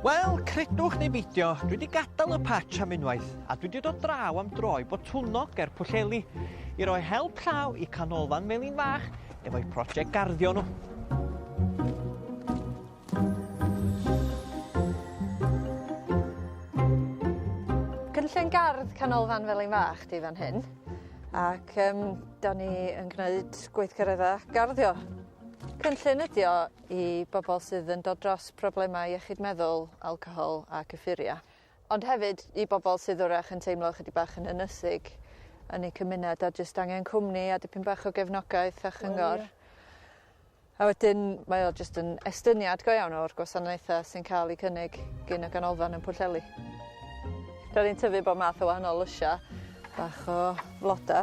Wel, credwch neu beidio, dwi 'di gadal y patch am unwaith, a dwi 'di dod draw am dro i Botwnnog ger Pwllheli i roi help llaw i Canolfan Melin Fach efo'u project garddio nhw. Cynllun gardd Canolfan Felin Fach di fan hyn, ac um, da ni yn gwneud gweithgareddau garddio. Cynllun ydi o i bobol sydd yn dod dros problemau iechyd meddwl, alcohol a cyffuria. Ond hefyd i bobol sydd 'w'rach yn teimlo ychydig bach yn ynysig yn eu cymuned a jyst angen cwmni a dipyn bach o gefnogaeth a chyngor. Wel ie. A wedyn mae o jyst yn estyniad go iawn o'r gwasanaetha sy'n ca'l 'u cynnig gin y ganolfan yn Pwllheli. 'Dan ni'n tyfu bob math o wahanol lysia bach o floda.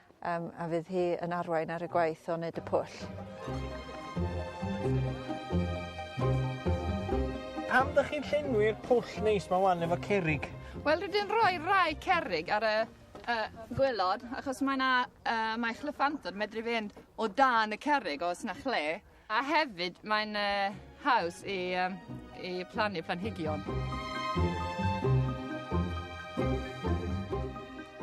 Yym a fydd hi yn arwain ar y gwaith o neud y pwll. Pam dych chi'n llenwi'r pwll neis 'ma ŵan efo cerrig? Wel dwi 'di roi rai cerrig ar y y gwilod achos mae 'na yy mae chlyffantod medru fynd o dan y cerrig os 'na chle. A hefyd mae'n haws i, i plannu planhigion.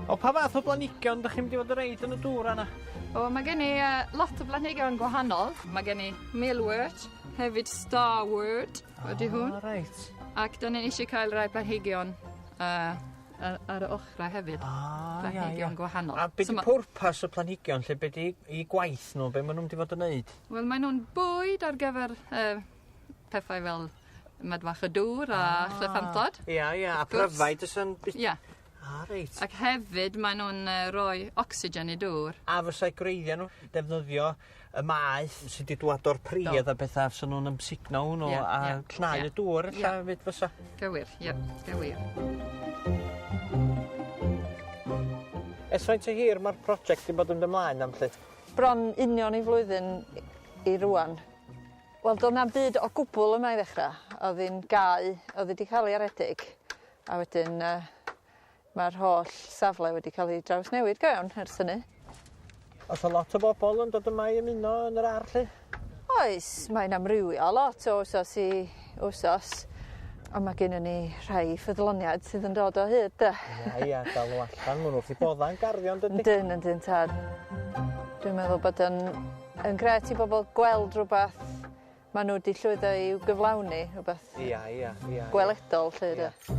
O pa fath o blanhigion dych chi'n mynd i fod yn reid yn y dŵr yna? O, mae gen i uh, lot o blanhigion gwahanol. Mae gen i mealwort, hefyd starwort, ydy hwn. Oh, right. Ac da ni'n eisiau cael rhai planhigion uh, a ar y ochra hefyd. O, ah, ia, ia. Planhigion gwahanol. A beth so, pwrpas y planhigion lle beth i, i gwaith nhw, beth maen nhw'n di fod yn neud? Wel, maen nhw'n bwyd ar gyfer uh, pethau fel medfach y dŵr a ah, llyffantod. Ia, ia, a pryfaid y sy'n... Ia. Ah, reit. Ac hefyd maen nhw'n uh, rhoi ocsigen i dŵr. A fysa'i greiddiau nhw defnyddio y maeth sy 'di dŵad o'r pridd a petha fyswn nw'n amsugno hwnnw a... Ie ie. ...a cnau y dŵr ella efyd fysa. Gywir ie gywir. Ers faint o hir ma'r project 'di bod yn dy mlaen am 'lly? Bron union i flwyddyn i i rŵan. Wel do' na'm byd o gwbwl yma i ddechra. O'dd 'i'n gau o'dd 'i 'di ca'l 'i aredig a wedyn yy Mae'r holl safle wedi cael ei drawsnewid go iawn ers hynny. Oes 'na lot o bobl yn dod yma i ymuno yn yr ar' 'lly? Oes mae'n amrywio lot o wsos i wsos on' ma' gennon ni rhai ffyddloniaid sydd yn dod o hyd 'de? Ia ia dal n'w allan ma' n'w wrth 'u bodda' yn garddio yndydi? Yndyn yndyn tad. Dwi'n meddwl bod yn yn grêt i bobol gweld rwbath Ma' n'w 'di llwyddo i'w gyflawni rwbeth... Ia ia ia. ...gweledol 'lly 'de? Ia.